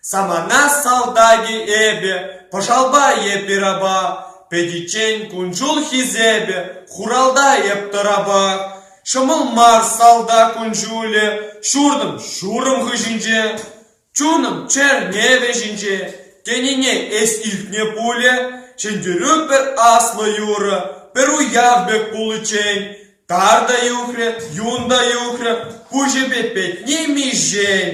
Самана салтаки эпӗ, пӑшалпа эпир апа, Пӗтиччен кунҫул хисепӗ, хуралта эп тӑрапак. Ҫӑмӑл мар салтак кун-ҫулӗ, ҫуртӑм ҫурӑм хыҫӗнче. Чунӑм чӗрне вӗҫӗнче тенине эс илтнӗ пулӗ, ҫӗнтерӳ пӗр аслӑ юрӑ, пӗр уяв пек пуличчен тар та юхрӗ, юн та юхрӗ куҫӗпе петни миҫен.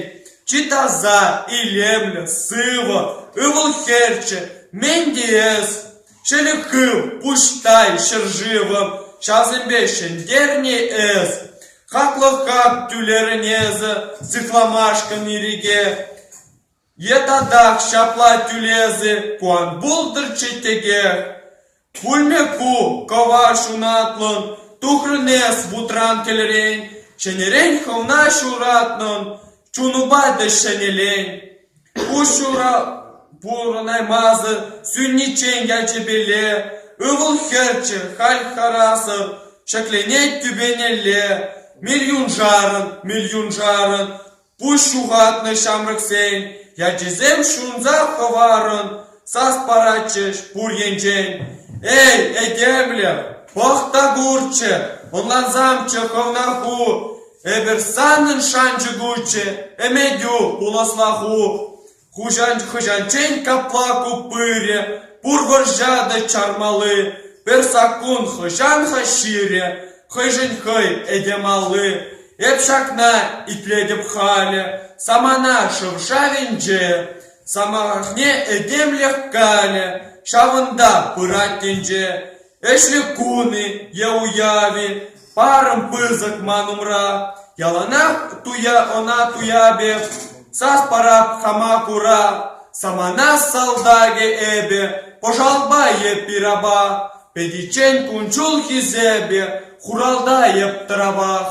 Чи таса, илемлӗ, сывӑ, ывӑл-хӗрччӗ мӗн тиес? Шӗлӗк хыв, пуҫтай ҫӗршывӑм, ҫавсемпе ҫӗнтернӗ эс. Хаклӑха тӳлерӗн эсӗ сыхламашкӑн ирӗке. Е татах ҫапла тӳлесӗ куан пултӑр чечеке. Пулмӗ ку кӑва ҫунатлӑн, тухрӑн эс вутран кӗлрен. Чӗнерен хӑвна ҫуратнӑн, чунупа та ҫӗнӗлен. Куҫҫулӗ пурӑнаймасӑр сӳниччен ячӗпеле ывӑл-хӗрччӗ халь харасӑр ҫӗкленет тӳпенелле милйуншарӑн, милйуншарӑн пуҫ ҫухатнӑ ҫамрӑксен ячӗсем ҫунса хӑварӑн сас паратчӗҫ пур енчен: «Эй, этемлӗх, пӑх та курччӗ, ӑнлансамччӗ хӑвна ху! Эпир санӑн шанчӑкуччӗ, ӗмӗтӳ, пуласла ху. Хӑҫанччен капла ку пырӗ, пур вӑрҫа та чармалли. Пӗр саккун хӑҫан-ха ҫирӗ, хӑйшӗн хӑй этем алли. Эп ҫакна итлетӗп халӗ, самана шӑв-шавӗнче. Самахне этемлӗх калӗ, ҫавӑнта пырать тӗнче. Ӗҫлӗ кун-и е уяв-и, парӑм пысӑк ман умра. Яланах туя ӑна туя пек, сас парап хама кура. Самана салтакӗ эпӗ, пӑшалпа е пираба. Пӗтиччен кун-ҫул хисепе, хуралта эп тӑравах.